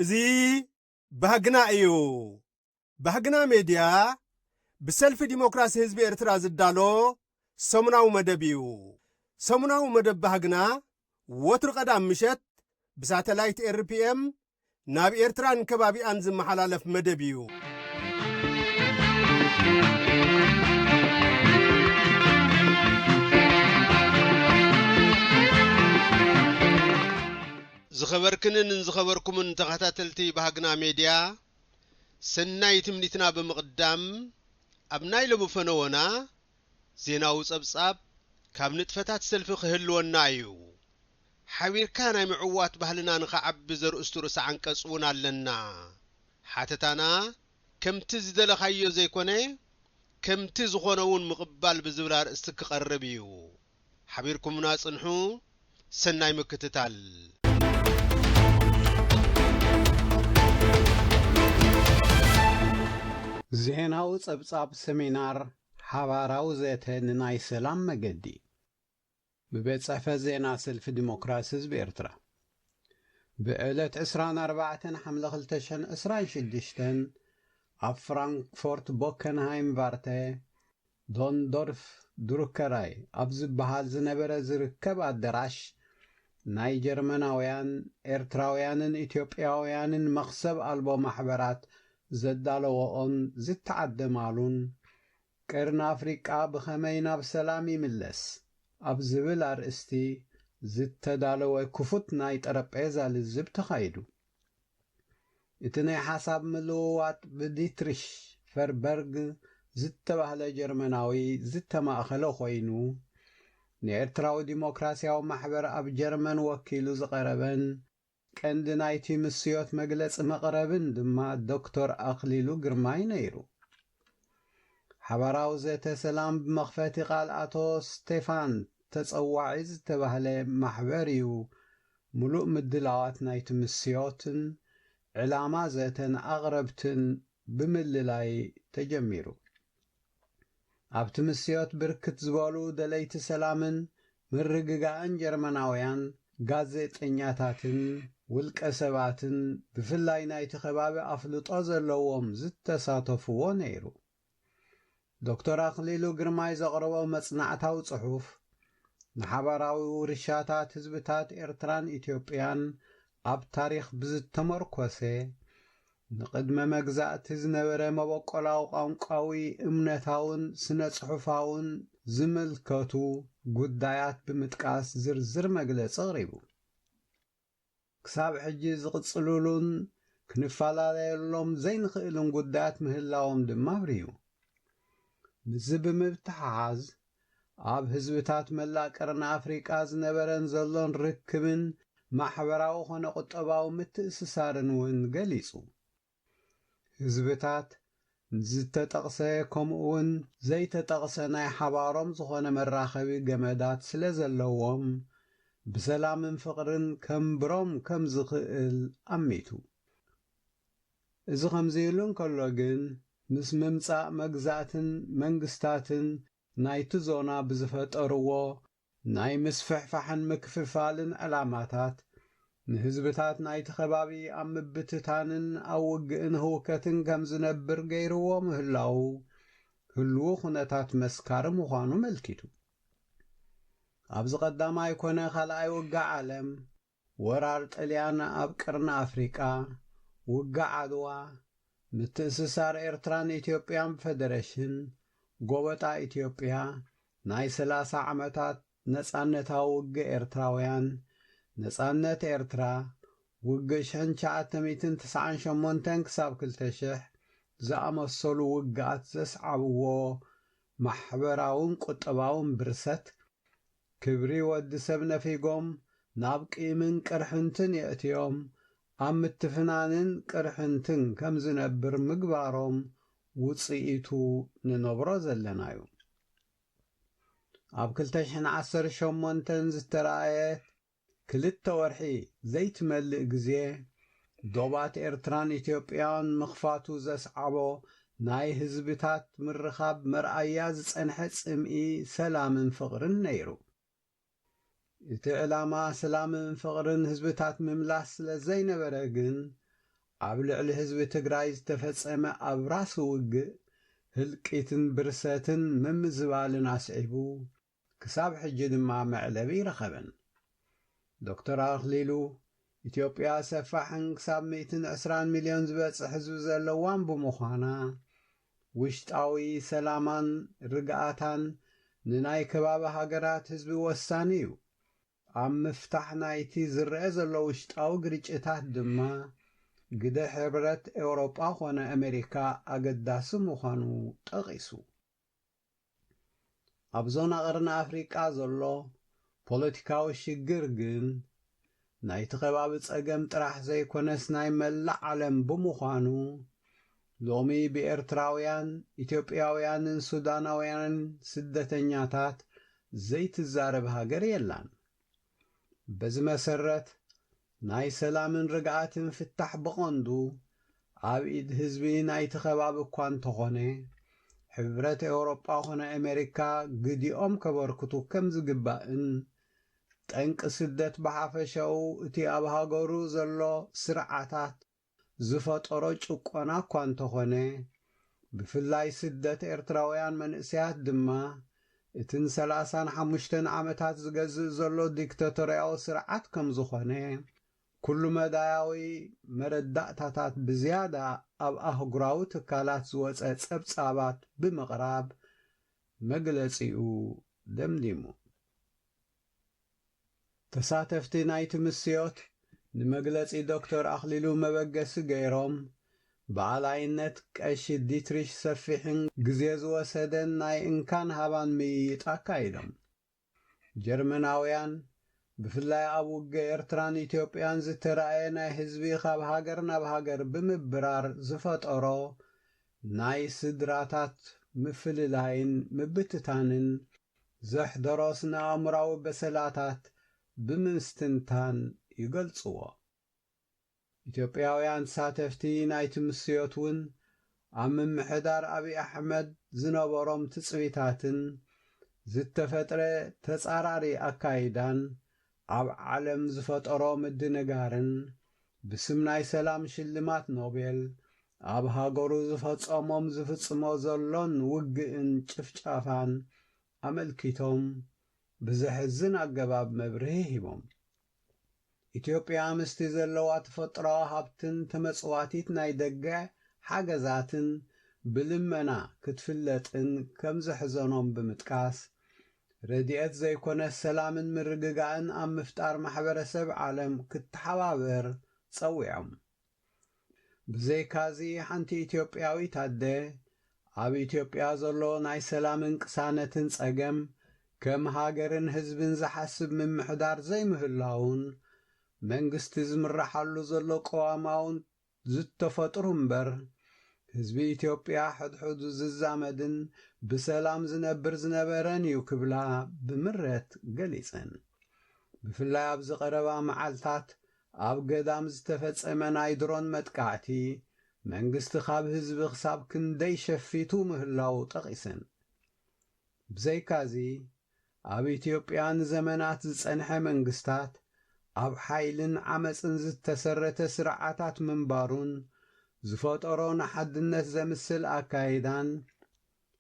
እዚ ባህግና እዩ። ባህግና ሜድያ ብሰልፊ ዲሞክራሲ ህዝቢ ኤርትራ ዝዳሎ ሰሙናዊ መደብ እዩ። ሰሙናዊ መደብ ባህግና ወትሩ ቀዳም ምሸት ብሳተላይት ኤርፒኤም ናብ ኤርትራን ከባቢኣን ዝመሓላለፍ መደብ እዩ። ዝኸበርክንን ዝኸበርኩምን ተኸታተልቲ ባህግና ሜድያ ሰናይ ትምኒትና ብምቕዳም ኣብ ናይ ሎሚ ፈነወና ዜናዊ ጸብጻብ ካብ ንጥፈታት ሰልፊ ክህልወና እዩ። ሓቢርካ ናይ ምዕዋት ባህልና ንኸዓቢ ዘርእስቱ ርእሰ ዓንቀጽ እውን ኣለና። ሓተታና ከምቲ ዝደለኻዮ ዘይኮነ ከምቲ ዝኾነ እውን ምቕባል ብዝብል ኣርእስቲ ክቐርብ እዩ። ሓቢርኩምና ጽንሑ። ሰናይ ምክትታል። ዜናዊ ጸብጻብ ሰሚናር ሓባራዊ ዘተ ንናይ ሰላም መገዲ። ብቤት ጽሕፈት ዜና ሰልፊ ዲሞክራሲ ህዝቢ ኤርትራ ብዕለት ዕስራን ኣርባዕተን ሓምለ ክልተ ሽሕን ዕስራን ሽዱሽተን ኣብ ፍራንክፎርት ቦከንሃይም ቫርተ ዶንዶርፍ ድሩከራይ ኣብ ዝበሃል ዝነበረ ዝርከብ ኣደራሽ ናይ ጀርመናውያን፣ ኤርትራውያንን ኢትዮጵያውያንን መኽሰብ ኣልቦ ማሕበራት ዘዳለወኦን ዝተዓደማሉን ቀርኒ ኣፍሪቃ ብኸመይ ናብ ሰላም ይምለስ ኣብ ዝብል ኣርእስቲ ዝተዳለወ ክፉት ናይ ጠረጴዛ ልዝብ ተኻይዱ። እቲ ናይ ሓሳብ ምልውዋጥ ብዲትሪሽ ፈርበርግ ዝተባህለ ጀርመናዊ ዝተማእከለ ኮይኑ፣ ንኤርትራዊ ዲሞክራሲያዊ ማሕበር ኣብ ጀርመን ወኪሉ ዝቐረበን፣ ቀንዲ ናይቲ ምስዮት መግለጺ መቕረብን ድማ ዶክቶር ኣክሊሉ ግርማይ ነይሩ። ሓባራዊ ዘተ ሰላም ብመኽፈቲ ቃል ኣቶ ስቴፋን ተጸዋዒ ዝተባህለ ማሕበር እዩ ምሉእ ምድላዋት ናይቲ ምስዮትን ዕላማ ዘተን ኣቕረብትን ብምልላይ ተጀሚሩ። ኣብቲ ምስዮት ብርክት ዝበሉ ደለይቲ ሰላምን ምርግጋእን ጀርመናውያን ጋዜጠኛታትን ውልቀ ሰባትን ብፍላይ ናይቲ ከባቢ ኣፍልጦ ዘለዎም ዝተሳተፍዎ ነይሩ። ዶክተር ኣኽሊሉ ግርማይ ዘቕረቦ መጽናዕታዊ ጽሑፍ ንሓባራዊ ውርሻታት ህዝብታት ኤርትራን ኢትዮጵያን ኣብ ታሪኽ ብዝተመርኮሰ፣ ንቕድመ መግዛእቲ ዝነበረ መበቆላዊ ቋንቋዊ፣ እምነታውን ስነ-ጽሑፋውን ዝምልከቱ ጉዳያት ብምጥቃስ ዝርዝር መግለጺ ኣቕሪቡ። ክሳብ ሕጂ ዝቕጽልሉን ክንፈላለየሎም ዘይንኽእልን ጉዳያት ምህላዎም ድማ ኣብሪሁ። ምስዚ ብምትሕሓዝ፣ ኣብ ህዝብታት መላእ ቀርኒ ኣፍሪቃ ዝነበረን ዘሎን ርክብን ማሕበራዊ ኮነ ቁጠባዊ ምትእስሳርን እውን ገሊጹ። ህዝብታት ንዝተጠቕሰ ከምኡ'ውን ዘይተጠቕሰ ናይ ሓባሮም ዝኾነ መራኸቢ ገመዳት ስለዘለዎም ብሰላምን ፍቕርን ከንብሮም ከምዝኽእል ኣሚቱ። እዚ ከምዚ ኢሉ እንከሎ ግን፣ ምስ ምምጻእ መግዛእትን መንግስታትን ናይቲ ዞና ብዝፈጠርዎ ናይ ምስፍሕፋሕን ምክፍፋልን ዕላማታት፣ ንህዝብታት ናይቲ ከባቢ ኣብ ምብትታንን ኣብ ውግእን ህውከትን ከም ዝነብር ገይርዎ ምህላዉ ህሉዉ ኩነታት መስካሪ ምዃኑ መልኪቱ። ኣብዚ ቀዳማይ ኮነ ካልኣይ ውግእ ዓለም፣ ወራር ጥልያን ኣብ ቅርኒ ኣፍሪቃ፣ ውግእ ዓድዋ፣ ምትእስሳር ኤርትራን ኢትዮጵያን ብፈደረሽን፣ ጎበጣ ኢትዮጵያ፣ ናይ ሰላሳ ዓመታት ነጻነታዊ ውግእ ኤርትራውያን፣ ነጻነት ኤርትራ፣ ውግእ ሽሕን ትሽዓተ ሚእትን ትስዓን ሸሞንተን ክሳብ ክልተ ሽሕ ዝኣመሰሉ ውግኣት ዘስዓብዎ ማሕበራውን ቁጠባውን ብርሰት ክብሪ ወዲ ሰብ ነፊጎም ናብ ቂምን ቅርሕንትን የእትዮም ኣብ ምትፍናንን ቅርሕንትን ከም ዝነብር ምግባሮም ውጽኢቱ ንነብሮ ዘለና'ዩ። ኣብ ክልተ ሽሕን ዓሰርተ ሸሞንተን ዝተራእየት፣ ክልተ ወርሒ ዘይትመልእ ግዜ ዶባት ኤርትራን ኢትዮጵያን ምኽፋቱ ዘስዓቦ ናይ ህዝብታት ምርኻብ መርኣያ ዝጸንሐ ጽምኢ ሰላምን ፍቕርን ነይሩ። እቲ ዕላማ ስላምን ፍቕርን ህዝብታት ምምላስ ስለ ዘይነበረ ግን ኣብ ልዕሊ ህዝቢ ትግራይ ዝተፈጸመ ኣብራሲ ውግእ ህልቂትን ብርሰትን ምምዝባልን ኣስዒቡ፣ ክሳብ ሕጂ ድማ መዕለቢ ኣይረኸበን። ዶክተር ኣኽሊሉ፣ ኢትዮጵያ ሰፋሕን ክሳብ ሚእትን ዕስራን ሚልዮን ዝበጽሕ ህዝቢ ዘለዋን ብምዃና፣ ውሽጣዊ ሰላማን ርግኣታን ንናይ ከባቢ ሃገራት ህዝቢ ወሳኒ እዩ። ኣብ ምፍታሕ ናይቲ ዝረኣ ዘሎ ውሽጣዊ ግርጭታት ድማ ግደ ሕብረት ኤውሮጳ ኮነ ኣመሪካ ኣገዳሲ ምዃኑ ጠቒሱ። ኣብ ዞና ቀርኒ ኣፍሪቃ ዘሎ ፖለቲካዊ ሽግር ግን ናይቲ ከባቢ ጸገም ጥራሕ ዘይኮነስ ናይ መላእ ዓለም ብምዃኑ ሎሚ ብኤርትራውያን፣ ኢትዮጵያውያንን ሱዳናውያንን ስደተኛታት ዘይትዛረብ ሃገር የላን። በዚ መሰረት ናይ ሰላምን ርግኣትን ፍታሕ ብቐንዱ ኣብ ኢድ ህዝቢ ናይቲ ከባቢ እኳ እንተኾነ ሕብረት ኤውሮጳ ኮነ ኣሜሪካ ግዲኦም ከበርክቱ ከም ዝግባእን ጠንቂ ስደት ብሓፈሻኡ እቲ ኣብ ሃገሩ ዘሎ ስርዓታት ዝፈጠሮ ጭቆና እኳ እንተኾነ፣ ብፍላይ ስደት ኤርትራውያን መንእሰያት ድማ፣ እቲ ን ሰላሳን ሓሙሽተን ዓመታት ዝገዝእ ዘሎ ዲክተቶርያዊ ስርዓት ከም ዝኾነ፣ ኩሉ-መዳያዊ መረዳእታታት ብዝያዳ ኣብ ኣህጉራዊ ትካላት ዝወጸ ጸብጻባት ብምቕራብ መግለጺኡ ደምዲሙ። ተሳተፍቲ ናይቲ ምስዮት ንመግለጺ ዶክተር ኣኽሊሉ መበገሲ ገይሮም፣ ብኣላይነት ቀሺ ዲትሪሽ ሰፊሕን ግዜ ዝወሰደን ናይ እንካን ሃባን ምይይጥ ኣካይዶም። ጀርመናውያን፣ ብፍላይ ኣብ ውግእ ኤርትራን ኢትዮጵያን ዝተራእየ ናይ ህዝቢ ካብ ሃገር ናብ ሃገር ብምብራር ዝፈጠሮ ናይ ስድራታት ምፍልላይን ምብትታንን፣ ዘሕደሮ ስነ-ኣእምሮኣዊ በሰላታት ብምስትንታን ይገልጽዎ። ኢትዮጵያውያን ተሳተፍቲ ናይቲ ምስዮት ውን ኣብ ምምሕዳር ኣብይ ኣሕመድ ዝነበሮም ትጽቢታትን ዝተፈጥረ ተጻራሪ ኣካይዳን ኣብ ዓለም ዝፈጠሮ ምድንጋርን ብስም ናይ ሰላም ሽልማት ኖቤል ኣብ ሃገሩ ዝፈጸሞም ዝፍጽሞ ዘሎን ውግእን ጭፍጫፋን ኣመልኪቶም ብዘሕዝን ኣገባብ መብርሂ ሂቦም። ኢትዮጵያ ምስቲ ዘለዋ ተፈጥሮኣዊ ሃብትን ተመጽዋቲት ናይ ደገ ሓገዛትን ብልመና ክትፍለጥን ከምዘሕዘኖም ብምጥቃስ፣ ረድኤት ዘይኮነስ ሰላምን ምርግጋእን ኣብ ምፍጣር ማሕበረሰብ ዓለም ክተሓባበር ፀዊዖም። ብዘይካ'ዚ ሓንቲ ኢትዮጵያዊት ኣደ ኣብ ኢትዮጵያ ዘሎ ናይ ሰላምን ቅሳነትን ፀገም ከም ሃገርን ህዝብን ዝሓስብ ምምሕዳር ዘይምህላዉን መንግስቲ ዝምረሓሉ ዘሎ ቅዋማውን ዝተፈጥሩ እምበር፣ ህዝቢ ኢትዮጵያ ሕድሕዱ ዝዛመድን ብሰላም ዝነብር ዝነበረን እዩ ክብላ ብምሬት ገሊጸን። ብፍላይ ኣብዚ ቀረባ መዓልታት ኣብ ገዳም ዝተፈጸመ ናይ ድሮን መጥቃዕቲ፣ መንግስቲ ካብ ህዝቢ ክሳብ ክንደይ ሸፊቱ ምህላዉ ጠቒሰን። ብዘይካዚ፣ ኣብ ኢትዮጵያ ንዘመናት ዝጸንሐ መንግስታት ኣብ ሓይልን ዓመጽን ዝተሰረተ ስርዓታት ምንባሩን ዝፈጠሮ ንሓድነት ዘምስል ኣካይዳን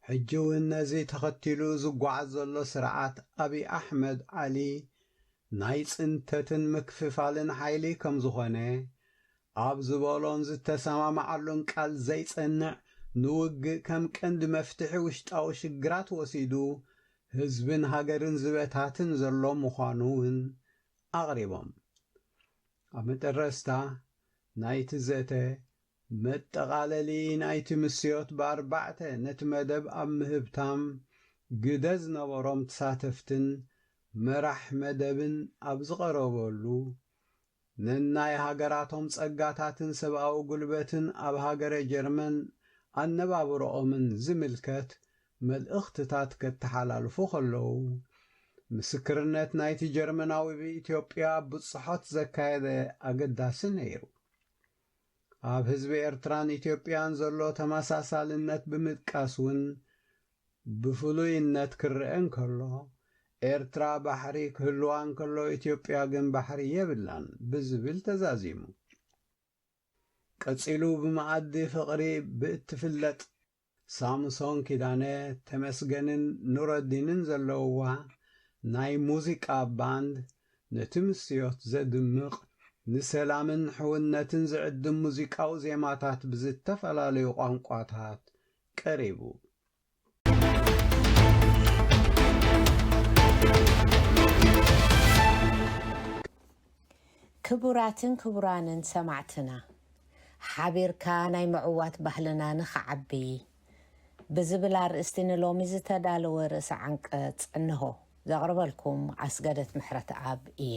ሕጂ ውን ነዚ ተኸቲሉ ዝጓዓዝ ዘሎ ስርዓት ኣብይ ኣሕመድ ዓሊ ናይ ጽንተትን ምክፍፋልን ሓይሊ ከም ዝኾነ ኣብ ዝበሎን ዝተሰማማዓሉን ቃል ዘይጸንዕ ንውግእ ከም ቀንዲ መፍትሒ ውሽጣዊ ሽግራት ወሲዱ ህዝብን ሃገርን ዝበታትን ዘሎ ምዃኑ እውን ኣቕሪቦም። ኣብ መጠረስታ ናይቲ ዘተ፣ መጠቓለሊ ናይቲ ምስዮት ብኣርባዕተ ነቲ መደብ ኣብ ምህብታም ግደ ዝነበሮም ትሳተፍትን መራሕ መደብን ኣብ ዝቐረበሉ፣ ነናይ ሃገራቶም ጸጋታትን ሰብኣዊ ጉልበትን ኣብ ሃገረ ጀርመን ኣነባብሮኦምን ዝምልከት መልእኽትታት ከተሓላልፉ ከለዉ፣ ምስክርነት ናይቲ ጀርመናዊ ብኢትዮጵያ ብጽሖት ዘካየደ ኣገዳሲ ነይሩ። ኣብ ህዝቢ ኤርትራን ኢትዮጵያን ዘሎ ተመሳሳልነት ብምጥቃስ ውን ብፍሉይነት ክረኣ እንከሎ፣ ኤርትራ ባሕሪ ክህልዋ እንከሎ ኢትዮጵያ ግን ባሕሪ የብላን ብዝብል ተዛዚሙ። ቀጺሉ ብመኣዲ ፍቕሪ ብእትፍለጥ ሳምሶን ኪዳነ፣ ተመስገንን ኑረዲንን ዘለውዋ ናይ ሙዚቃ ባንድ ነቲ ምስዮት ዘድምቕ ንሰላምን ሕውነትን ዝዕድም ሙዚቃዊ ዜማታት ብዝተፈላለዩ ቋንቋታት ቀሪቡ። ክቡራትን ክቡራንን ሰማዕትና ሓቢርካ ናይ ምዕዋት ባህልና ንክዓቢ ብዝብል ኣርእስቲ ንሎሚ ዝተዳለወ ርእሰ ዓንቀጽ እንሆ። ዘቕርበልኩም ኣስገደት ምሕረትኣብ እየ።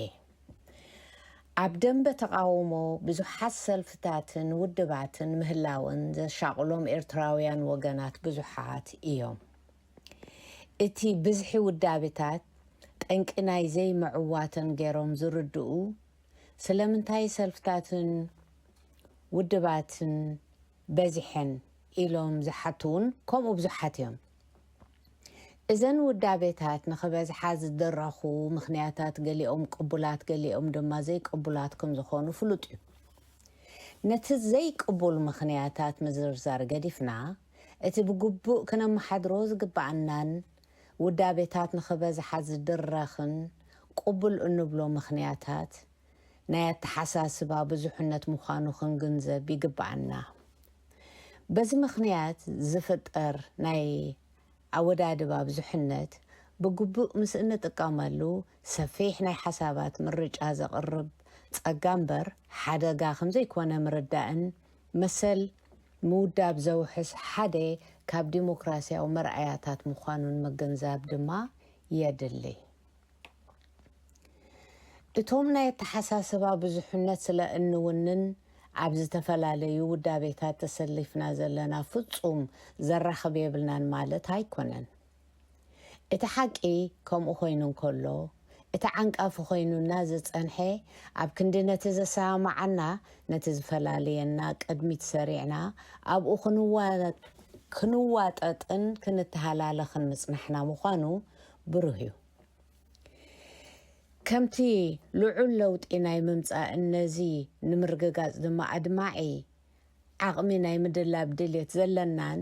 ኣብ ደምበ ተቓውሞ ብዙሓት ሰልፍታትን ውድባትን ምህላወን ዘሻቕሎም ኤርትራውያን ወገናት ብዙሓት እዮም። እቲ ብዝሒ ውዳቤታት ጠንቂ ናይ ዘይምዕዋተን ገይሮም ዝርድኡ ስለምንታይ ሰልፍታትን ውድባትን በዚሐን ኢሎም ዝሓቱውን ከምኡ ብዙሓት እዮም። እዘን ውዳቤታት ንኽበዝሓ ዝድረኹ ምኽንያታት ገሊኦም ቅቡላት ገሊኦም ድማ ዘይቅቡላት ከም ዝኾኑ ፍሉጥ እዩ። ነቲ ዘይቅቡል ምኽንያታት ምዝርዛር ገዲፍና እቲ ብግቡእ ክነመሓድሮ ዝግበኣናን ውዳቤታት ንኽበዝሓ ዝድረኽን ቅቡል እንብሎ ምኽንያታት፣ ናይ ኣተሓሳስባ ብዙሕነት ምዃኑ ክንግንዘብ ይግበኣና። በዚ ምኽንያት ዝፍጠር ናይ ኣወዳድባ ብዙሕነት ብግቡእ ምስ እንጥቀመሉ ሰፊሕ ናይ ሓሳባት ምርጫ ዘቕርብ ጸጋ እምበር ሓደጋ ከምዘይኮነ ምርዳእን መሰል ምውዳብ ዘውሕስ ሓደ ካብ ዲሞክራሲያዊ መርኣያታት ምዃኑን ምግንዛብ ድማ የድሊ። እቶም ናይ ኣተሓሳስባ ብዙሕነት ስለ እንውንን ኣብ ዝተፈላለዩ ውዳቤታት ተሰሊፍና ዘለና ፍጹም ዘራኽብ የብልናን ማለት ኣይኮነን። እቲ ሓቂ ከምኡ ኮይኑ እንከሎ እቲ ዓንቃፊ ኮይኑና ዝጸንሐ ኣብ ክንዲ ነቲ ዘሰማማዓና ነቲ ዝፈላልየና ቅድሚት ሰሪዕና ኣብኡ ክንዋጠጥን ክንተሃላለኽን ምጽናሕና ምዃኑ ብሩህ እዩ። ከምቲ ልዑል ለውጢ ናይ ምምጻእን ነዚ ንምርግጋጽ ድማ ኣድማዒ ዓቕሚ ናይ ምድላብ ድሌት ዘለናን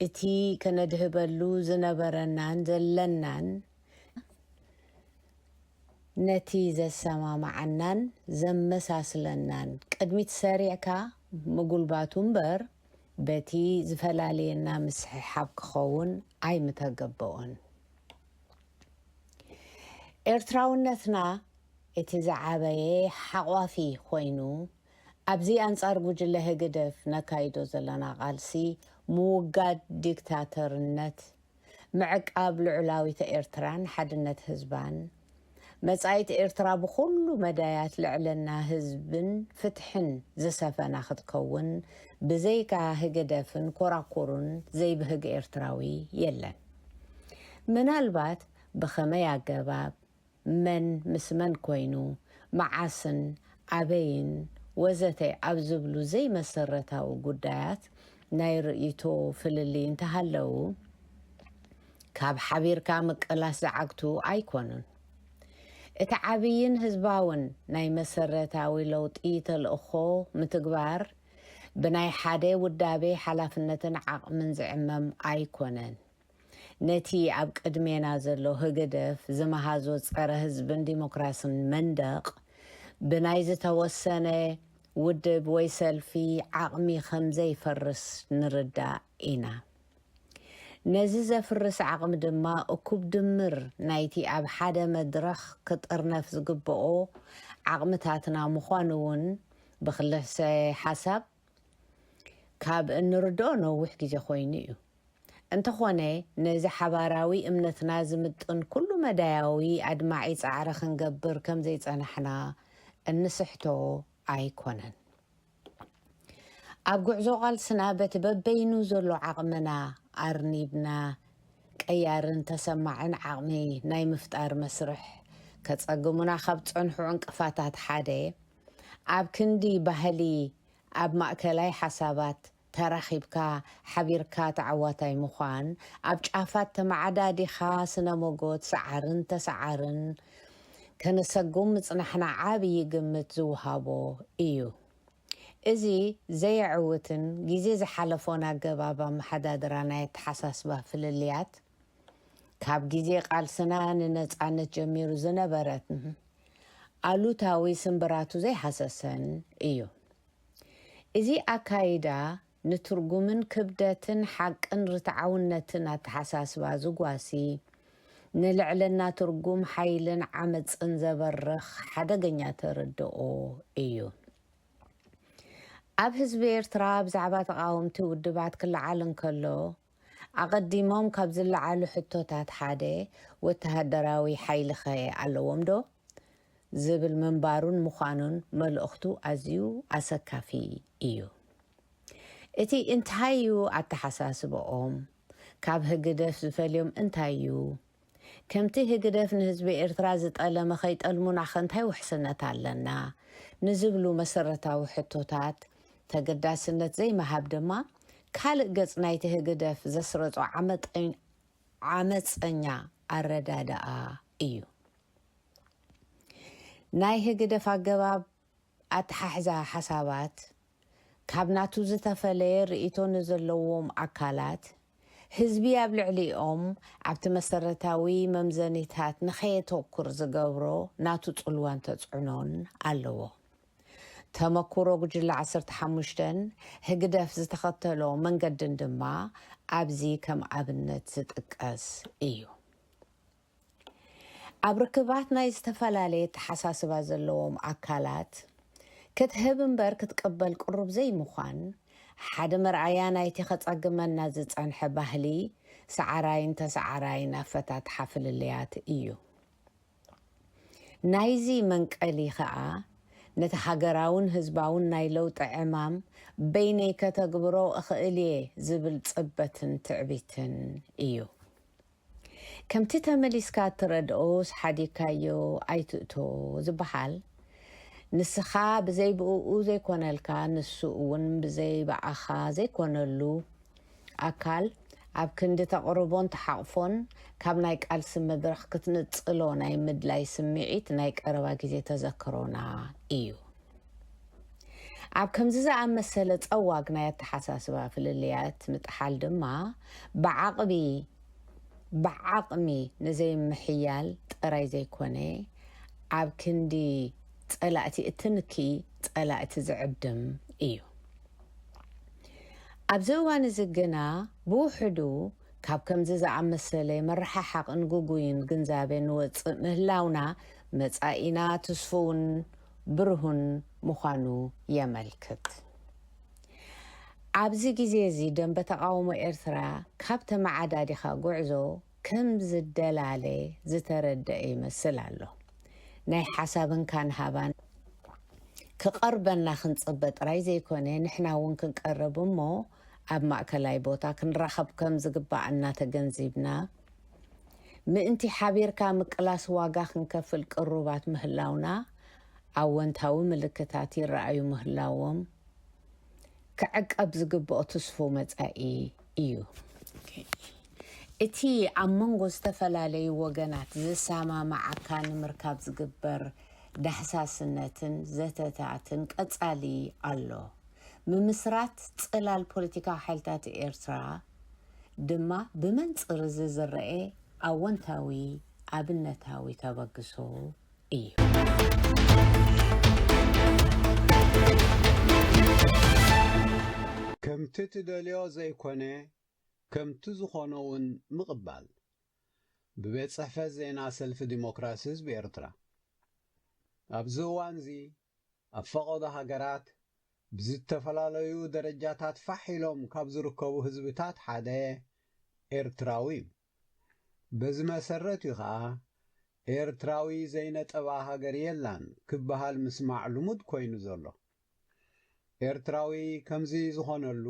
እቲ ከነድህበሉ ዝነበረናን ዘለናን ነቲ ዘሰማምዓናን ዘመሳስለናን ቅድሚት ሰሪዕካ ምጉልባቱ እምበር በቲ ዝፈላልየና ምስሕሓብ ክኸውን ኣይምተገበኦን። ኤርትራውነትና እቲ ዝዓበየ ሓቋፊ ኮይኑ፣ ኣብዚ ኣንጻር ጉጅለ ህግደፍ ነካይዶ ዘለና ቃልሲ ምውጋድ ዲክታተርነት፣ ምዕቃብ ልዑላዊተ ኤርትራን ሓድነት ህዝባን፣ መጻኢት ኤርትራ ብኹሉ መዳያት ልዕልና ህዝብን ፍትሕን ዝሰፈና ክትከውን ብዘይካ ህግደፍን ኮራኩሩን ዘይብህግ ኤርትራዊ የለን። ምናልባት ብኸመይ ኣገባብ፣ መን ምስ መን ኮይኑ፣ መዓስን ኣበይን ወዘተ ኣብ ዝብሉ ዘይመሰረታዊ ጉዳያት ናይ ርእይቶ ፍልልይ እንተሃለው ካብ ሓቢርካ ምቅላስ ዝዓግቱ ኣይኮኑን። እቲ ዓብይን ህዝባውን ናይ መሰረታዊ ለውጢ ተልእኾ ምትግባር ብናይ ሓደ ውዳቤ ሓላፍነትን ዓቕምን ዝዕመም ኣይኮነን። ነቲ ኣብ ቅድሜና ዘሎ ህግደፍ ዝመሃዞ ጸረ ህዝብን ዲሞክራስን መንደቕ ብናይ ዝተወሰነ ውድብ ወይ ሰልፊ ዓቕሚ ከምዘይፈርስ ንርዳእ ኢና። ነዚ ዘፍርስ ዓቕሚ ድማ እኩብ ድምር ናይቲ ኣብ ሓደ መድረኽ ክጥርነፍ ዝግበኦ ዓቕምታትና ምዃኑ እውን ብክልሰ ሓሳብ ካብ እንርድኦ ነዊሕ ግዜ ኮይኑ እዩ። እንተኾነ ነዚ ሓባራዊ እምነትና ዝምጥን ኩሉ መዳያዊ ኣድማዒ ጻዕሪ ክንገብር ከም ዘይጸናሕና እንስሕቶ ኣይኮነን። ኣብ ጉዕዞ ቃልስና በቲ በበይኑ ዘሎ ዓቕምና ኣርኒብና ቀያርን ተሰማዕን ዓቕሚ ናይ ምፍጣር መስርሕ ከጸግሙና ካብ ዝጸንሑ ዕንቅፋታት ሓደ ኣብ ክንዲ ባህሊ ኣብ ማእከላይ ሓሳባት ተራኺብካ ሓቢርካ ተዓዋታይ ምዃን ኣብ ጫፋት ተመዓዳዲኻ ስነ ሞጎት ሰዓርን ተሰዓርን ከነሰጉም ምጽናሕና ዓብዪ ግምት ዝውሃቦ ኢዩ። እዚ ዘየዕውትን ግዜ ዝሓለፎን ኣገባብ ኣመሓዳድራ ናይ ኣተሓሳስባ ፍልልያት፣ ካብ ግዜ ቃልስና ንነጻነት ጀሚሩ ዝነበረ ኣሉታዊ ስምብራቱ ዘይሃሰሰን እዩ። እዚ ኣካይዳ ንትርጉምን ክብደትን ሓቅን ርትዓውነትን ኣተሓሳስባ ዝጓሲ፣ ንልዕልና ትርጉም ሓይልን ዓመጽን ዘበርኽ ሓደገኛ ተርድኦ እዩ። ኣብ ህዝቢ ኤርትራ ብዛዕባ ተቓወምቲ ውድባት ክለዓል እንከሎ፣ ኣቐዲሞም ካብ ዝለዓሉ ሕቶታት ሓደ ወተሃደራዊ ሓይሊኸ ኣለዎምዶ? ዝብል ምንባሩን ምዃኑን መልእኽቱ ኣዝዩ ኣሰካፊ እዩ። እቲ እንታይ'ዩ ኣተሓሳስባኦም? ካብ ህግደፍ ዝፈልዮም እንታይ'ዩ? ከምቲ ህግደፍ ንህዝቢ ኤርትራ ዝጠለመ ከይጠልሙናኸ እንታይ ውሕስነት ኣለና? ንዝብሉ መሰረታዊ ሕቶታት ተገዳስነት ዘይምሃብ ድማ ካልእ ገጽ ናይቲ ህግደፍ ዘስረጾ ዓመጸኛ ኣረዳድኣ እዩ። ናይ ህግደፍ ኣገባብ ኣተሓሕዛ ሓሳባት ካብ ናቱ ዝተፈለየ ርእይቶ ንዘለዎም ኣካላት፣ ህዝቢ ኣብ ልዕሊኦም ኣብቲ መሰረታዊ መምዘኒታት ንኸየተኩር ዝገብሮ ናቱ ጽልዋን ተጽዕኖን ኣለዎ። ተመኩሮ ጉጅለ ዓሰርተ ሓሙሽተን ህግደፍ ዝተኸተሎ መንገድን ድማ ኣብዚ ከም ኣብነት ዝጥቀስ እዩ። ኣብ ርክባት ናይ ዝተፈላለየ ኣተሓሳስባ ዘለዎም ኣካላት ክትህብ እምበር ክትቅበል ቅሩብ ዘይምዃን ሓደ መርኣያ ናይቲ ከጸግመና ዝጸንሐ ባህሊ ሰዓራይን ተሰዓራይን ኣፈታትሓ ፍልልያት እዩ። ናይዚ መንቀሊ ከኣ ነቲ ሃገራውን ህዝባውን ናይ ለውጢ ዕማም በይነይ ከተግብሮ እኽእል'የ ዝብል ጽበትን ትዕቢትን እዩ። ከምቲ ተመሊስካ እትረድኦስ ሓዲግካዮ ኣይትእቶ ዝበሃል፣ ንስኻ ብዘይ ብእኡ ዘይኮነልካ ንሱ እውን ብዘይ ብኣኻ ዘይኮነሉ ኣካል ኣብ ክንዲ ተቕርቦን ትሓቕፎን ካብ ናይ ቃልሲ መድረኽ ክትንጽሎ ናይ ምድላይ ስምዒት ናይ ቀረባ ግዜ ተዘክሮና ኢዩ። ኣብ ከምዚ ዝኣመሰለ ጸዋግ ናይ ኣተሓሳስባ ፍልልያት ምጥሓል ድማ ብዓቕቢ ብዓቕሚ ንዘይምሕያል ጥራይ ዘይኮነ፣ ኣብ ክንዲ ጸላእቲ እትንኪ ጸላእቲ ዝዕድም እዩ። ኣብዚ እዋን እዚ ግና ብውሕዱ ካብ ከምዚ ዝኣመሰለ መረሓሓቕን ግጉይን ግንዛበ ንወጽእ ምህላውና መጻኢና ትስፉውን ብርሁን ምዃኑ የመልክት። ኣብዚ ግዜ'ዚ ደምበ ተቓውሞ ኤርትራ ካብ ተመዓዳዲኻ ጉዕዞ ከም ዝደላለ ዝተረደኣ ይመስል ኣሎ። ናይ ሓሳብን ካንሃባን ክቐርበና ክንጽበ ጥራይ ዘይኮነ ንሕና እውን ክንቀርብ እሞ ኣብ ማእከላይ ቦታ ክንራኸብ ከም ዝግባኣና ተገንዚብና፣ ምእንቲ ሓቢርካ ምቅላስ ዋጋ ክንከፍል ቅሩባት ምህላውና ኣወንታዊ ምልክታት ይረኣዩ ምህላዎም ክዕቀብ ዝግብኦ ትስፉው መጻኢ እዩ። እቲ ኣብ መንጎ ዝተፈላለዩ ወገናት ዘሰማምዓካ ንምርካብ ዝግበር ዳህሳስነትን ዘተታትን ቀጻሊ ኣሎ። ምምስራት ጽላል ፖለቲካዊ ሓይልታት ኤርትራ፣ ድማ ብመንጽር'ዚ ዝረኤ ኣወንታዊ ኣብነታዊ ተበግሶ እዩ። ከምቲ ትደልዮ ዘይኮነ ከምቲ ዝኾነ'ውን ምቕባል። ብቤት ጽሕፈት ዜና ሰልፊ ዲሞክራሲ ህዝቢ ኤርትራ። ኣብዚ እዋን'ዚ ኣብ ፈቐዶ ሃገራት ብዝተፈላለዩ ደረጃታት ፋሕ ኢሎም ካብ ዝርከቡ ህዝብታት ሓደ ኤርትራዊ እዩ። በዚ መሰረት እዩ ከኣ ኤርትራዊ ዘይነጠባ ሃገር የላን ክበሃል ምስማዕ ልሙድ ኮይኑ ዘሎ። ኤርትራዊ ከምዚ ዝኾነሉ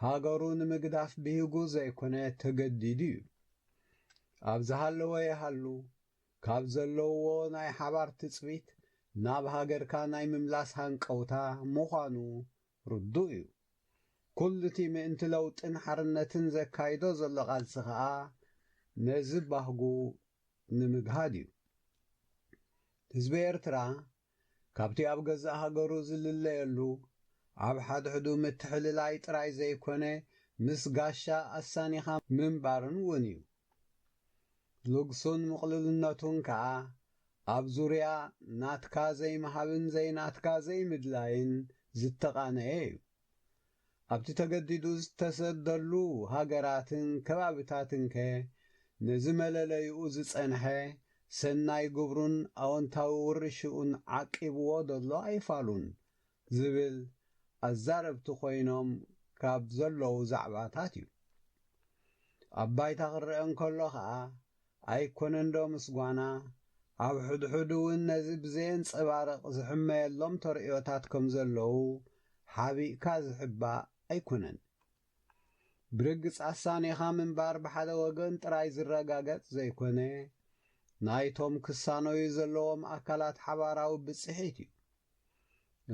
ሃገሩ ንምግዳፍ ብሂጉ ዘይኮነ ተገዲዱ እዩ። ኣብ ዝሃለወ ይሃሉ ካብ ዘለውዎ ናይ ሓባር ትጽቢት ናብ ሃገርካ ናይ ምምላስ ሃንቀውታ ምዃኑ ርዱእ እዩ። ኩሉ'ቲ ምእንቲ ለውጥን ሓርነትን ዘካይዶ ዘሎ ቃልሲ ከኣ ነዚ ባህጉ ንምግሃድ እዩ። ህዝቢ ኤርትራ ካብቲ ኣብ ገዛእ ሃገሩ ዝልለየሉ፣ ኣብ ሓድሕዱ ምትሕልላይ ጥራይ ዘይኮነ ምስ ጋሻ ኣሳኒኻ ምንባርን እውን እዩ። ልግሱን ምቕሉልነቱን ከኣ ኣብ ዙርያ ናትካ ዘይምሃብን ዘይናትካ ዘይምድላይን ዝተቓነየ እዩ። ኣብቲ ተገዲዱ ዝተሰደሉ ሃገራትን ከባቢታትንከ ነዚ መለለይኡ ዝጸንሐ ሰናይ ግብሩን ኣወንታዊ ውርሽኡን ዓቂብዎ ዶ'ሎ ኣይፋሉን? ዝብል ኣዛረብቲ ኮይኖም ካብ ዘለዉ ዛዕባታት'ዩ። ኣብ ባይታ ክረኣ እንከሎ ከኣ ኣይኮነንዶ ምስ ጓና፣ ኣብ ሕድሕዱ እውን ነዚ ብዘየንጸባርቕ ዝሕመየሎም ተርእዮታት ከም ዘለዉ ሓቢእካ ዝሕባእ ኣይኮነን። ብርግጽ ኣሳኒኻ ምንባር ብሓደ ወገን ጥራይ ዝረጋገጽ ዘይኮነ፣ ናይቶም ክሳነዩ ዘለዎም ኣካላት ሓባራዊ ብጽሒት እዩ።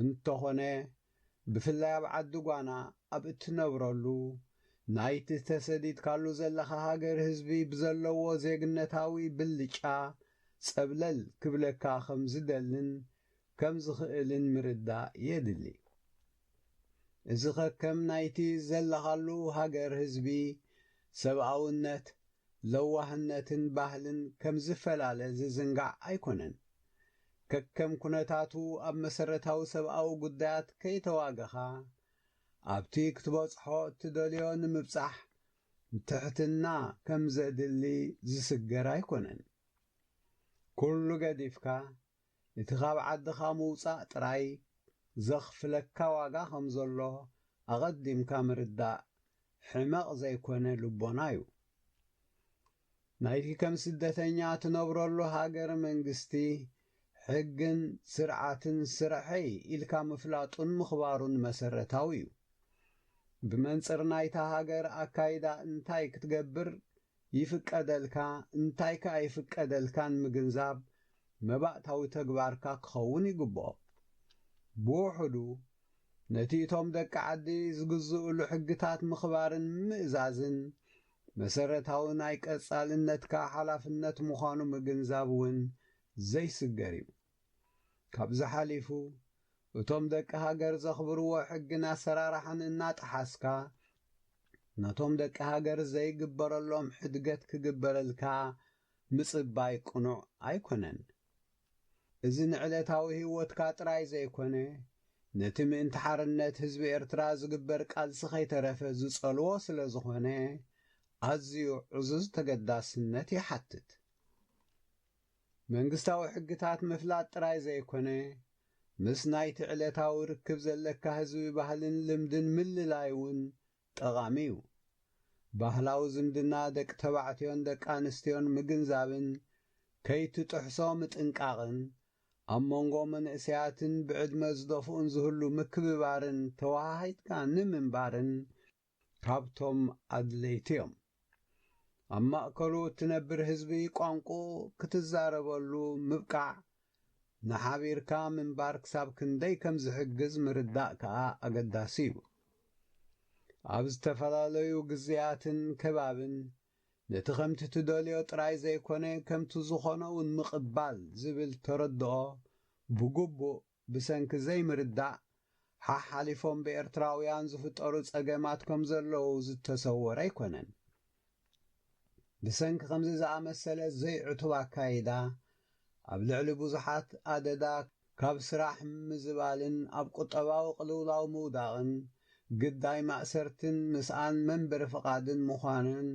እንተኾነ ብፍላይ ኣብ ዓዲ ጓና ኣብ እትነብረሉ ናይቲ ተሰዲድካሉ ዘለኻ ሃገር ህዝቢ ብዘለዎ ዜግነታዊ ብልጫ ጸብለል ክብለካ ከም ዝደልን ከም ዝኽእልን ምርዳእ የድሊ። እዚ ከከም ናይቲ ዘለኻሉ ሃገር ህዝቢ ሰብኣውነት፣ ለዋህነትን ባህልን ከም ዝፈላለ ዝዝንጋዕ ኣይኮነን። ከከም ኩነታቱ ኣብ መሰረታዊ ሰብኣዊ ጉዳያት ከይተዋገኻ ኣብቲ ክትበጽሖ እትደልዮ ንምብጻሕ ትሕትና ከም ዘድሊ ዝስገር ኣይኮነን። ኩሉ ገዲፍካ እቲ ካብ ዓድኻ ምውጻእ ጥራይ ዘኽፍለካ ዋጋ ከም ዘሎ ኣቐዲምካ ምርዳእ ሕመቕ ዘይኮነ ልቦና'ዩ። ናይቲ ከም ስደተኛ ትነብረሉ ሃገር መንግስቲ፣ ሕግን ስርዓትን ስረሐይ ኢልካ ምፍላጡን ምኽባሩን መሰረታዊ እዩ። ብመንጽር ናይታ ሃገር ኣካይዳ እንታይ ክትገብር ይፍቀደልካ እንታይ ከ ኣይፍቀደልካን ምግንዛብ መባእታዊ ተግባርካ ክኸውን ይግብኦ። ብውሑዱ ነቲ እቶም ደቂ ዓዲ ዝግዝእሉ ሕግታት ምኽባርን ምእዛዝን መሰረታዊ ናይ ቀጻልነትካ ሓላፍነት ምዃኑ ምግንዛብ እውን ዘይስገር እዩ። ካብዚ ሓሊፉ፣ እቶም ደቂ ሃገር ዘኽብርዎ ሕግን ኣሰራርሓን እናጠሓስካ፣ ነቶም ደቂ ሃገር ዘይግበረሎም ሕድገት ክግበረልካ ምጽባይ ቅኑዕ ኣይኮነን። እዚ ንዕለታዊ ህይወትካ ጥራይ ዘይኮነ፣ ነቲ ምእንቲ ሓርነት ህዝቢ ኤርትራ ዝግበር ቃልሲ ከይተረፈ ዝጸልዎ ስለ ዝኾነ፣ ኣዝዩ ዕዙዝ ተገዳስነት ይሓትት። መንግስታዊ ሕግታት ምፍላጥ ጥራይ ዘይኮነ፣ ምስ ናይቲ ዕለታዊ ርክብ ዘለካ ህዝቢ ባህልን ልምድን ምልላይ እውን ጠቓሚ እዩ። ባህላዊ ዝምድና ደቂ ተባዕትዮን ደቂ ኣንስትዮን ምግንዛብን ከይትጥሕሶ ምጥንቃቕን፣ ኣብ መንጎ መንእሰያትን ብዕድመ ዝደፍኡን ዝህሉ ምክብባርን ተወሃሂድካ ንምንባርን ካብቶም ኣድለይቲ እዮም። ኣብ ማእከሉ እትነብር ህዝቢ ቋንቁኡ ክትዛረበሉ ምብቃዕ ንሓቢርካ ምንባር ክሳብ ክንደይ ከም ዝሕግዝ ምርዳእ ከኣ ኣገዳሲ እዩ። ኣብ ዝተፈላለዩ ግዝያትን ከባብን ነቲ ከምቲ ትደልዮ ጥራይ ዘይኮነ ከምቲ ዝኾነውን ምቕባል ዝብል ተረድኦ ብግቡእ ብሰንኪ ዘይምርዳእ ሓሓሊፎም ብኤርትራውያን ዝፍጠሩ ጸገማት ከምዘለዉ ዝተሰወረ ኣይኮነን። ብሰንኪ ከምዚ ዝኣመሰለ ዘይዕቱብ ኣካይዳ ኣብ ልዕሊ ብዙሓት ኣደዳ ካብ ስራሕ ምዝባልን ኣብ ቁጠባዊ ቅልውላው ምውዳቕን ግዳይ ማእሰርትን ምስኣን መንበሪ ፍቓድን ምዃንን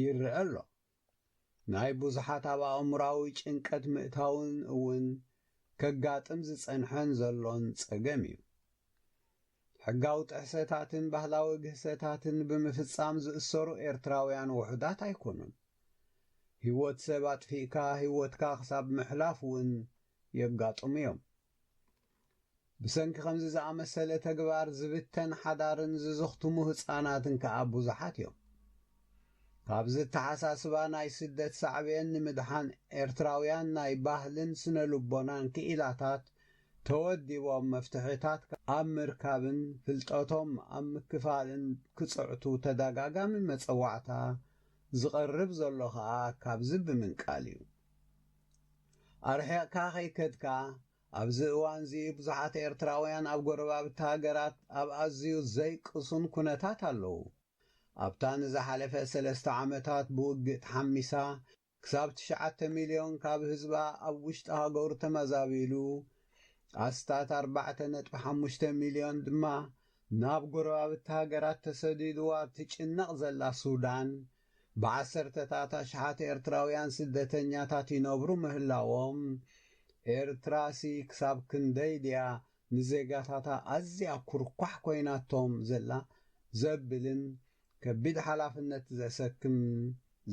ይረኣ ኣሎ። ናይ ብዙሓት ኣብ ኣእምሮኣዊ ጭንቀት ምእታውን እውን ከጋጥም ዝጸንሐን ዘሎን ጸገም እዩ። ሕጋዊ ጥሕሰታትን ባህላዊ ግህሰታትን ብምፍጻም ዝእሰሩ ኤርትራውያን ውሑዳት ኣይኮኑን። ህይወት ሰብ ኣጥፊእካ ህይወትካ ክሳብ ምሕላፍ እውን የጋጥሙ እዮም። ብሰንኪ ከምዚ ዝኣመሰለ ተግባር ዝብተን ሓዳርን ዝዝኽትሙ ህጻናትን ከኣ ብዙሓት እዮም። ካብዚ እተሓሳስባ ናይ ስደት ሳዕቤን ንምድሓን ኤርትራውያን ናይ ባህልን ስነ-ልቦናን ክኢላታት ተወዲቦም መፍትሒታት ኣብ ምርካብን ፍልጠቶም ኣብ ምክፋልን ክጽዕቱ ተደጋጋሚ መጸዋዕታ ዝቐርብ ዘሎ ከኣ ካብዚ ብምንቃል እዩ። ኣርሒቕካ ከይከድካ ኣብዚ እዋንዚ ብዙሓት ኤርትራውያን ኣብ ጎረባብቲ ሃገራት ኣብ ኣዝዩ ዘይቅሱን ኩነታት ኣለዉ። ኣብታ ንዝሓለፈ ሰለስተ ዓመታት ብውግእ ተሓሚሳ ክሳብ ትሽዓተ ሚልዮን ካብ ህዝባ ኣብ ውሽጢ ሃገሩ ተመዛቢሉ ኣስታት ኣርባዕተ ነጥቢ ሓሙሽተ ሚልዮን ድማ ናብ ጎረባብቲ ሃገራት ተሰዲዱ ኣብ ትጭነቕ ዘላ ሱዳን ብዓሰርተታት ኣሽሓት ኤርትራውያን ስደተኛታት ይነብሩ ምህላዎም፣ ኤርትራሲ ክሳብ ክንደይ ድያ ንዜጋታታ ኣዝያ ኩርኳሕ ኮይናቶም ዘላ ዘብልን ከቢድ ሓላፍነት ዘሰክም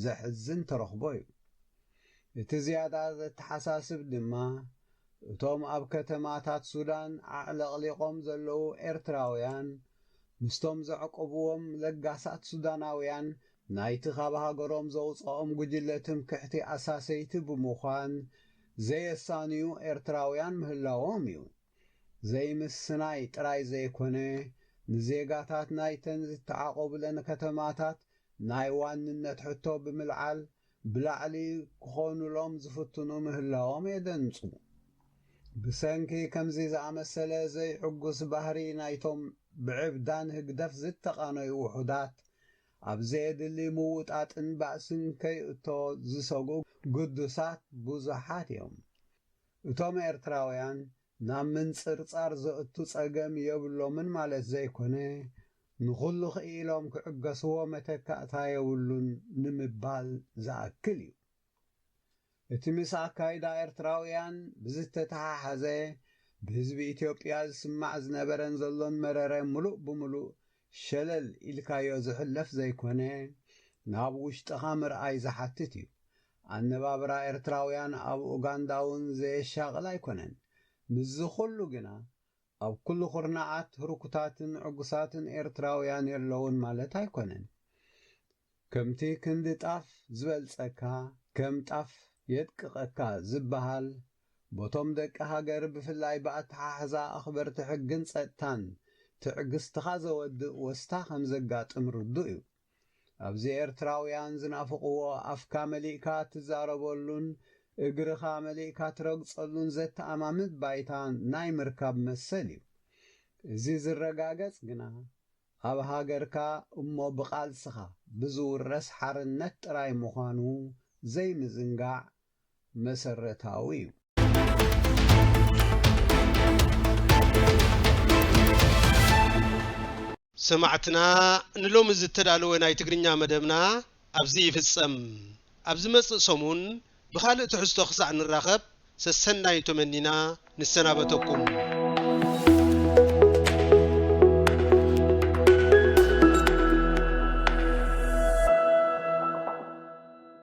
ዘሕዝን ተረኽቦ'ዩ። እቲ ዝያዳ ዘተሓሳስብ ድማ፣ እቶም ኣብ ከተማታት ሱዳን ኣዕለቕሊቖም ዘለዉ ኤርትራውያን ምስቶም ዘዕቆብዎም ለጋሳት ሱዳናውያን ናይቲ ካብ ሃገሮም ዘውጽኦም ጉጅለ ትምክሕቲ ኣሳሰይቲ ብምዃን ዘየሳንዩ ኤርትራውያን ምህላዎም እዩ። ዘይምስናይ ጥራይ ዘይኮነ ንዜጋታት ናይተን ዝተዓቖቡለን ከተማታት ናይ ዋንነት ሕቶ ብምልዓል ብላዕሊ ክኾኑሎም ዝፍትኑ ምህላዎም የደንጹ። ብሰንኪ ከምዚ ዝኣመሰለ ዘይዕጉስ ባህሪ ናይቶም ብዕብዳን ህግደፍ ዝተቓነዩ ውሑዳት፣ ኣብ ዘየድሊ ምውጣጥን ባእስን ከይእቶ ዝሰግኡ ግዱሳት ብዙሓት እዮም። እቶም ኤርትራውያን ናብ ምንጽርጻር ዘእቱ ጸገም የብሎምን ማለት ዘይኮነ፣ ንኹሉ ክኢሎም ክዕገስዎ መተካእታ የብሉን ንምባል ዝኣክል እዩ። እቲ ምስ ኣካይዳ ኤርትራውያን ብዝተተሓሓዘ ብህዝቢ ኢትዮጵያ ዝስማዕ ዝነበረን ዘሎን መረረ ምሉእ ብምሉእ ሸለል ኢልካዮ ዝሕለፍ ዘይኮነ፣ ናብ ውሽጥኻ ምርኣይ ዝሓትት እዩ። ኣነባብራ ኤርትራውያን ኣብ ኡጋንዳ'ውን ዘየሻቕል ኣይኮነን። ምስዚ ኩሉ ግና፣ ኣብ ኩሉ ኩርናዓት ህርኩታትን ዕጉሳትን ኤርትራውያን የለዉን ማለት ኣይኮነን። ከምቲ ክንዲ ጣፍ ዝበልጸካ ከም ጣፍ የድቅቐካ ዝበሃል፣ በቶም ደቂ ሃገር ብፍላይ ብኣተሓሕዛ ኣኽበርቲ ሕግን ጸጥታን ትዕግስትኻ ዘወድእ ወስታ ከም ዘጋጥም ርዱእ'ዩ። ኣብዚ ኤርትራውያን ዝናፍቕዎ ኣፍካ መሊእካ እትዛረበሉን እግርኻ መሊእካ ትረግጸሉን ዘተኣማምት ባይታ ናይ ምርካብ መሰል እዩ። እዚ ዝረጋገጽ ግና ኣብ ሃገርካ እሞ ብቓልስኻ ብዝውረስ ሓርነት ጥራይ ምዃኑ ዘይምዝንጋዕ መሰረታዊ እዩ። ሰማዕትና ንሎሚ ዝተዳለወ ናይ ትግርኛ መደብና ኣብዚ ይፍጸም። ኣብ ዝመጽእ ሰሙን ብኻልእ ትሕዝቶ ክሳዕ ንራኸብ ሰሰናዩ ተመኒና ንሰናበተኩም።